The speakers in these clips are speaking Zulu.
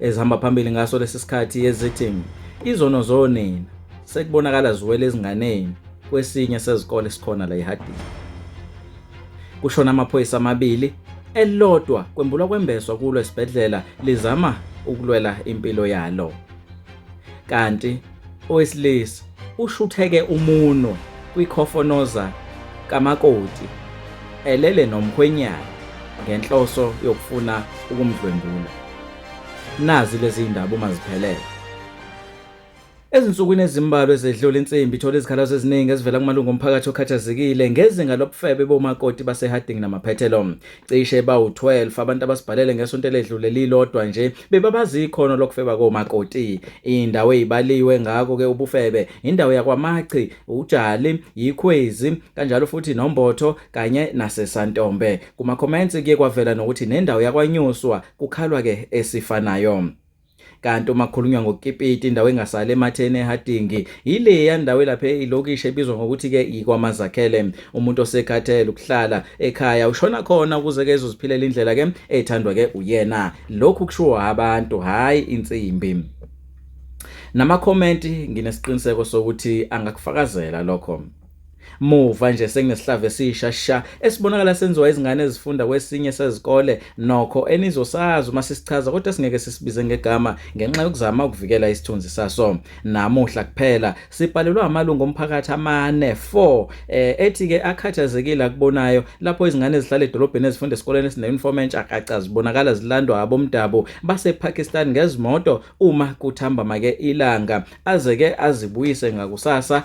ezihamba phambili ngaso lesi sikhathi ezithi izono zonina sekubonakala ziwele ezinganeni kwesinye sezikole esikhona la eHarding. Kushona amaphoyisa amabili elilodwa kwembulwa kwembeswa kulo esibhedlela lizama ukulwela impilo yalo. Kanti Owesilisa ushutheke umunwe kwikhofonoza kamakoti elele nomkhwenyana ngenhloso yokufuna ukumdlwengula. Nazi lezi ndaba uma ziphelele. Ezinsukwini ezimbalwa ezedlule insimbi ithola izikhalazo eziningi ezivela kumalungu omphakathi okhathazekile ngezinga lobufebe bomakoti baseHarding namaphethelo. cishe bawu-12 abantu abasibhalele ngesonto eledlule lilodwa nje bebabazi ikhono lokufeba komakoti indawo eyibaliwe ngako ke ubufebe indawo yakwamachi ujali yikhwezi kanjalo futhi nombotho kanye nasesantombe kuma comments kuye kwavela nokuthi nendawo yakwanyuswa kukhalwa ke esifanayo Kanti uma kukhulunywa ngoKipiti indawo engasale ematheni eHadingi yileya ndawo elapha ilokishi ebizwa ngokuthi-ke yikwaMazakhele. Umuntu osekhathele ukuhlala ekhaya ushona khona ukuze-ke ezoziphilela indlela-ke ethandwa-ke uyena. Lokhu kushiwo abantu, hhayi insimbi. Namakhomenti nginesiqiniseko sokuthi angakufakazela lokho. Muva nje senginesihlava esisha sha esibonakala senziwa izingane ezifunda kwesinye sezikole nokho enizosazi uma sisichaza kodwa singeke sisibize ngegama ngenxa yokuzama ukuvikela isithunzi saso. Namuhla kuphela sibhalelwa amalungu omphakathi amane 4 eh, ethi ke akhathazekile akubonayo lapho izingane ezihlala edolobheni ezifunda esikoleni esineuniform entsha kaca zibonakala zilandwa abomdabu basePakistan ngezimoto uma kuthambama ke ilanga aze ke azibuyise ngakusasa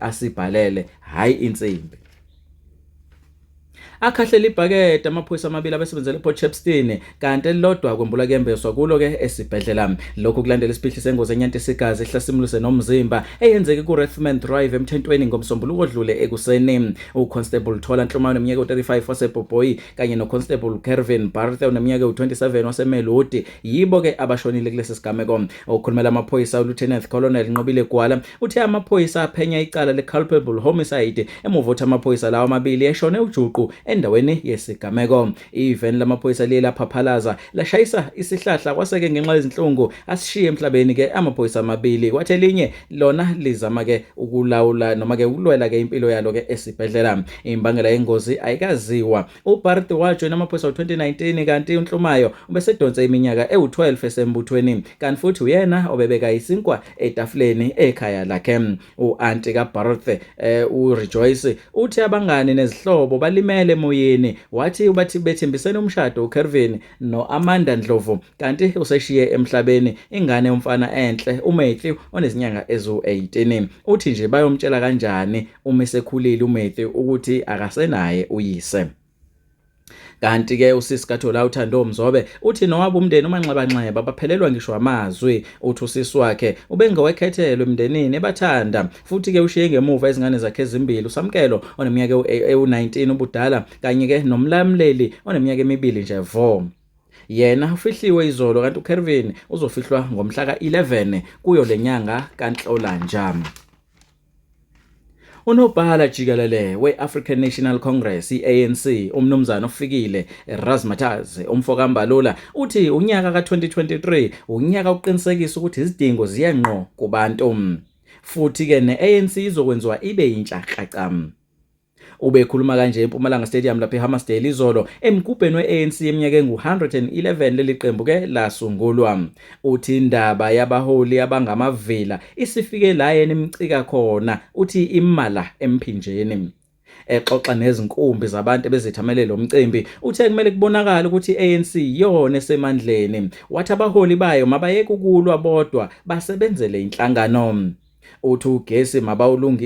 asibhalele hayi insimbi akhahlela ibhakede amaphoyisa amabili abesebenzela ePort Shepstone kanti elilodwa kwembula kuyembeswa kulo ke esibhedlela lokhu kulandela isiphihli sengozi enyanta isigazi ehlasimulise nomzimba eyenzeke kuRathman Drive emthentweni ngomsombuluko odlule ekuseni uConstable Thola Nhlumane umnyaka u35 waseBoboyi kanye noConstable Kervin Barthe oneminyaka u27 waseMelodi yibo ke abashonile kulesi sigameko okhulumela amaphoyisa uLieutenant Colonel Nqobile Gwala Uthe amaphoyisa aphenya icala le-culpable homicide emuva ukuthi amaphoyisa lawa amabili eshone ujuqu endaweni yesigameko. Iveni lamaphoyisa liye laphaphalaza lashayisa isihlahla kwaseke ngenxa yezinhlungu asishiye emhlabeni ke amaphoyisa amabili kwathi elinye lona lizama ke ukulawula noma ke ukulwela ke impilo yalo ke esibhedlela. Imbangela yengozi ayikaziwa. UBarth wajoyina amaphoyisa ngo-2019 kanti uNhlumayo ubesedonse iminyaka ewu-12 esembuthweni kanti futhi uyena obebeka isinkwa etafuleni ekhaya lakhe. U-anti kaBarth eh, uRejoice uthi abangani nezihlobo balimele emoyeni wathi ubathi bethembisene umshado uKervin no-Amanda Ndlovu kanti useshiye emhlabeni ingane yomfana enhle uMatthew onezinyanga eziwu-18. Uthi nje bayomtshela kanjani uma esekhulile uMatthew ukuthi akasenaye uyise. kanti ke usisi kaThola uThando Mzobe uthi nowabo umndeni umanxebanxeba baphelelwa ngisho amazwi uthi usisi wakhe ubengowekhethelwe emndenini ebathanda Futhi-ke ushiye ngemuva izingane zakhe ezimbili, uSamkelo oneminyaka ewu-19 ubudala kanye-ke noMlamleli oneminyaka emibili nje vo. Yena ufihliwe izolo kanti uKervin uzofihlwa ngomhla ka-11 kuyo le nyanga kaNhlolanja. Unobhala jikelele we-African National Congress i-ANC uMnumzane oFikile Razmataz umfoka Mbalula uthi unyaka ka-2023 unyaka oqinisekisa ukuthi izidingo ziye ngqo kubantu. Futhi ke neANC izokwenziwa ibe yintsha kacam. Ubekhuluma kanje eMpumalanga Stadium lapha eHammarsdale izolo emgubheni we-ANC eminyaka engu-111 leli qembu ke lasungulwa. Uthi indaba yabaholi abangamavila isifike la yena imcika khona uthi imala emphinjeni. Exoxa nezinkumbi zabantu ebezethamele lo mcimbi, uthe kumele kubonakale ukuthi i-ANC iyona esemandleni, wathi abaholi bayo mabayeke ukulwa bodwa basebenzele inhlangano. Uthi ugesi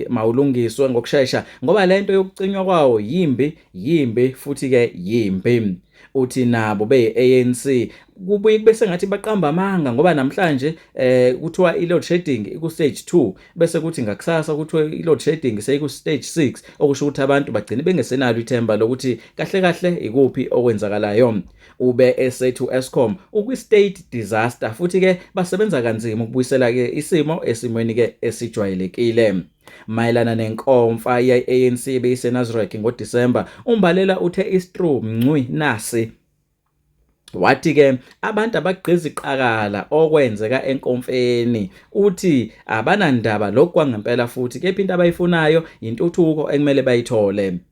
mawulungiswe ngokushesha ngoba le nto yokucinywa kwawo yimbi, yimbi futhi-ke yimbi. Uthi nabo beyi-ANC kubuye kube sengathi baqamba amanga ngoba namhlanje eh kuthiwa i-load shedding iku-stage 2 bese kuthi ngakusasa kuthiwa i-load shedding seyiku-stage 6 okusho ukuthi abantu bagcine bengesenalo ithemba lokuthi kahle kahle ikuphi okwenzakalayo ube esethu Eskom ukwi-state disaster futhi-ke basebenza kanzima ukubuyisela-ke isimo esimweni-ke esijwayelekile Mayelana nenkomfa ye-ANC ebeyiseNasrec ngoDisemba, uMbalela uthe iStru Mncwi nasi Wathi ke abantu abagqiza iqakala okwenzeka enkomfeni uthi abanandaba lokhu kwangempela futhi kepha into abayifunayo yintuthuko ekumele bayithole.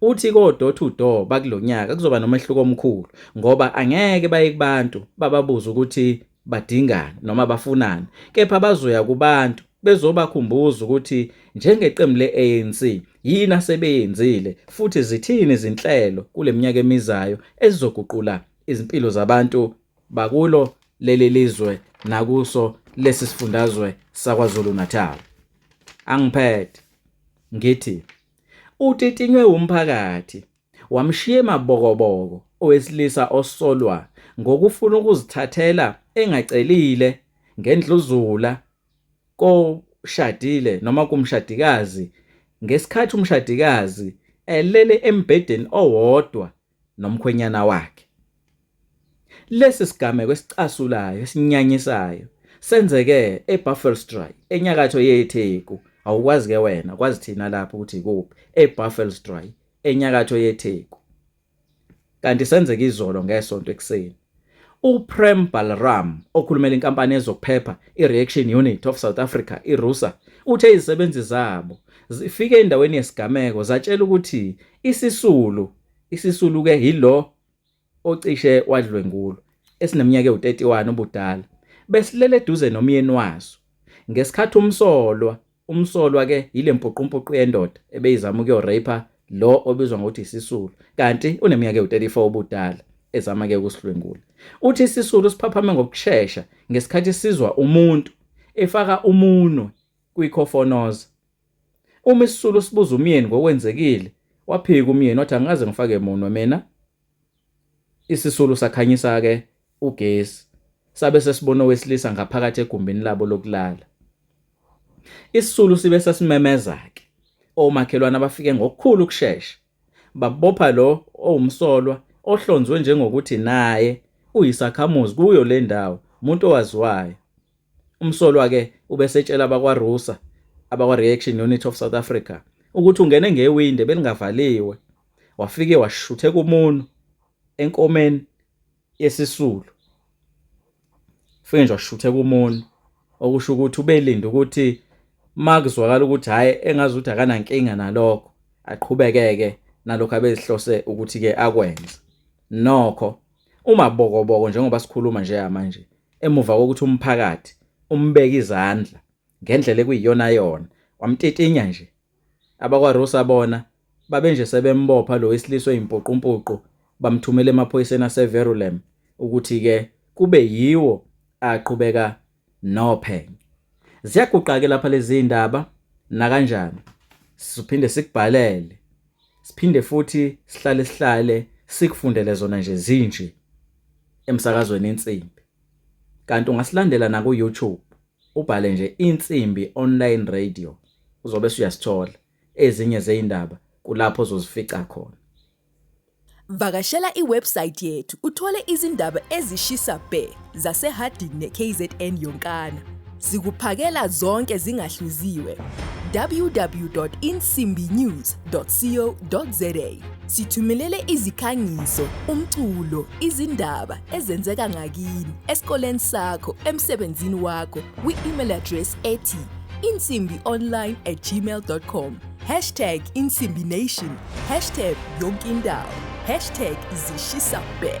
Uthi ko-door to door bakulo nyaka kuzoba nomehluko omkhulu ngoba angeke baye kubantu bababuze ukuthi badingani noma bafunani kepha bazoya kubantu bezobakhumbuza ukuthi njengeqembu le-ANC yini asebeyenzile futhi zithini izinhlelo kule minyaka emizayo ezizoguqula izimpilo zabantu bakulo leli lizwe nakuso lesi sifundazwe saKwaZulu-Natal. Angiphethe ngithi Utitinywe wumphakathi wamshiya emabokoboko owesilisa osolwa ngokufuna ukuzithathela engacelile ngendluzula koshadile noma kumshadikazi ngesikhathi umshadikazi elele embhedeni owodwa nomkhwenyana wakhe. Lesi sigameko esicasulayo esinyanyisayo senzeke eBuffelsdraai enyakatho yeTheku. Awukwazi ke wena kwazi thina lapho ukuthi ikuphi eBuffelsdraai enyakatho yeTheku. Kanti senzeke izolo ngesonto ekuseni. UPrem Balram, okhulumela inkampani yezokuphepha iReaction Unit of South Africa, iRUSA, uthe izisebenzi zabo zifike endaweni yesigameko zatshela ukuthi isisulu isisulu-ke yilo ocishe wadlwengulwa esineminyaka ewu-31 ubudala besilele eduze nomyeni waso ngesikhathi umsolwa Umsolwa ke yile mpuqumpuqu yendoda ebeyizama ukuyoraper lo obizwa ngokuthi isisulu kanti uneminyaka ewu-34 ubudala ezama ke ukusihlwengula. Uthi isisulu siphaphame ngokushesha ngesikhathi sizwa umuntu efaka umunwe kwikhofonoza. Uma isisulu sibuza umyeni ngokwenzekile, waphika umyeni wathi angikaze ngifake munwe mina. Isisulu sakhanyisa-ke ugesi sabe sesibona owesilisa ngaphakathi egumbini labo lokulala. Isisulu sibe sesimemeza-ke omakhelwane abafike ngokukhulu ukushesha babopha lo owumsolwa ohlonzwe njengokuthi naye uyisakhamuzi kuyo le ndawo umuntu owaziwayo. Umsolwa ke ubesetshela abakwaRusa abakwa-Reaction Unit of South Africa ukuthi ungene ngewindi belingavaliwe wafike washuthe kumunu enkomeni yesisulu ufike nje washuthe kumunu okusho ukuthi ubelinde ukuthi makuzwakala ukuthi hhayi engazi ukuthi akanankinga nalokho aqhubekeke nalokho abezihlose ukuthi-ke akwenze nokho umabokoboko njengoba sikhuluma nje manje emuva kokuthi umphakathi umbeke izandla ngendlela ekuyiyonayona wamtitinya nje abakwarusa bona babenje sebembopha lo wesilisa oyimpuqumpuqu bamthumela emaphoyiseni aseverulem ukuthi-ke kube yiwo aqhubeka nophenyo ziyaguqake lapha lezi ndaba nakanjani sizophinde sikubhalele Siphinde futhi sihlale sihlale sikufundele zona nje zinje emsakazweni insimbi. Kanti ungasilandela na ku YouTube ubhale nje insimbi online radio uzobe usuyasithola ezinye zeindaba kulapho ozozifica khona. Vakashela iwebsite yethu uthole izindaba ezishisa bhe zaseHarding neKZN yonkana. Sikuphakela zonke zingahluziwe. www.insimbinews.co.za Sithumelele izikhangiso, umculo, izindaba ezenzeka ngakini, esikoleni sakho, emsebenzini wakho kwi-email address ethi insimbi online at gmail.com Hashtag Insimbi Nation. Hashtag Yonkindawo. Hashtag Zishisa Bhe.